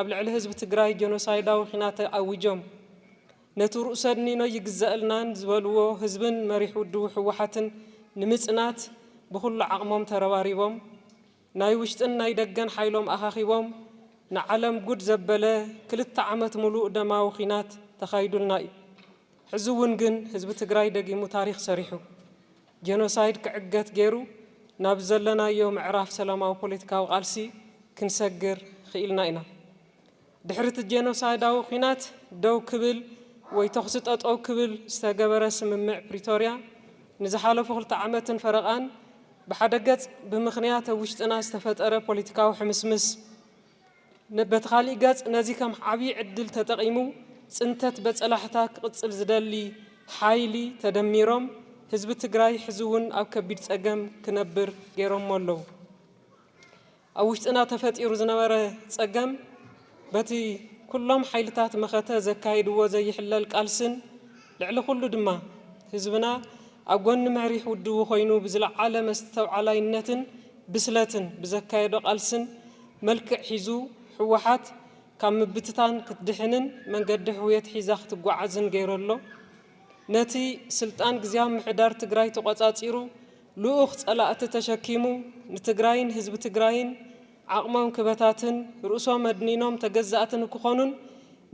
ኣብ ልዕሊ ህዝቢ ትግራይ ጀኖሳይዳዊ ኺናት ኣዊጆም ነቲ ርኡሰኒኖ ይግዘእልናን ዝበልዎ ህዝብን መሪሕ ውድቡ ህወሓትን ንምፅናት ብኹሉ ዓቕሞም ተረባሪቦም ናይ ውሽጥን ናይ ደገን ሓይሎም ኣኻኺቦም ንዓለም ጉድ ዘበለ ክልተ ዓመት ሙሉእ ደማዊ ኺናት ተኻይዱልና እዩ። ሕዚ እውን ግን ህዝቢ ትግራይ ደጊሙ ታሪኽ ሰሪሑ። ጀኖሳይድ ክዕገት ገይሩ ናብ ዘለናዮ ምዕራፍ ሰላማዊ ፖለቲካዊ ቃልሲ ክንሰግር ኽኢልና ኢና። ድሕሪ እቲ ጀኖሳይዳዊ ኲናት ደው ክብል ወይ ተኹሲ ጠጠው ክብል ዝተገበረ ስምምዕ ፕሪቶርያ ንዝሓለፉ ክልተ ዓመትን ፈረቓን ብሓደ ገፅ ብምኽንያት ኣብ ውሽጥና ዝተፈጠረ ፖለቲካዊ ሕምስምስ በቲ ካሊእ ገፅ ነዚ ከም ዓብዪ ዕድል ተጠቒሙ ፅንተት በፀላሕታ ክቕፅል ዝደሊ ሓይሊ ተደሚሮም ህዝቢ ትግራይ ሕዚ እውን ኣብ ከቢድ ፀገም ክነብር ገይሮሞ ኣለው። ኣብ ውሽጥና ተፈጢሩ ዝነበረ ፀገም በቲ ኩሎም ሓይልታት መኸተ ዘካይድዎ ዘይሕለል ቃልስን ልዕሊ ኩሉ ድማ ህዝብና ኣብ ጎኒ መሪሕ ውድቡ ኮይኑ ብዝለዓለ መስተውዓላይነትን ብስለትን ብዘካየዶ ቃልስን መልክዕ ሒዙ ህወሓት ካብ ምብትታን ክትድሕንን መንገዲ ሕውየት ሒዛ ክትጓዓዝን ገይሩ ኣሎ። ነቲ ስልጣን ግዝያዊ ምሕዳር ትግራይ ተቖፃፂሩ ልኡኽ ፀላእቲ ተሸኪሙ ንትግራይን ህዝቢ ትግራይን ዓቕሞም ክበታትን ርእሶም ኣድኒኖም ተገዛእቲ ንክኾኑን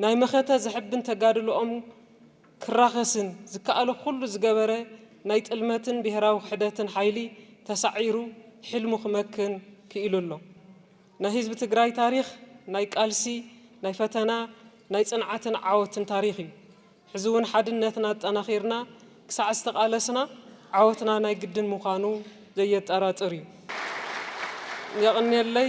ናይ መኸተ ዘሕብን ተጋድልኦም ክራኸስን ዝከኣሎ ኩሉ ዝገበረ ናይ ጥልመትን ብሄራዊ ክሕደትን ሓይሊ ተሳዒሩ ሕልሙ ክመክን ክኢሉ ኣሎ። ናይ ህዝቢ ትግራይ ታሪኽ ናይ ቃልሲ፣ ናይ ፈተና፣ ናይ ፅንዓትን ዓወትን ታሪኽ እዩ። ሕዚ እውን ሓድነትና ኣጠናኺርና ክሳዕ ዝተቓለስና ዓወትና ናይ ግድን ምዃኑ ዘየጠራጥር እዩ። የቕንየለይ።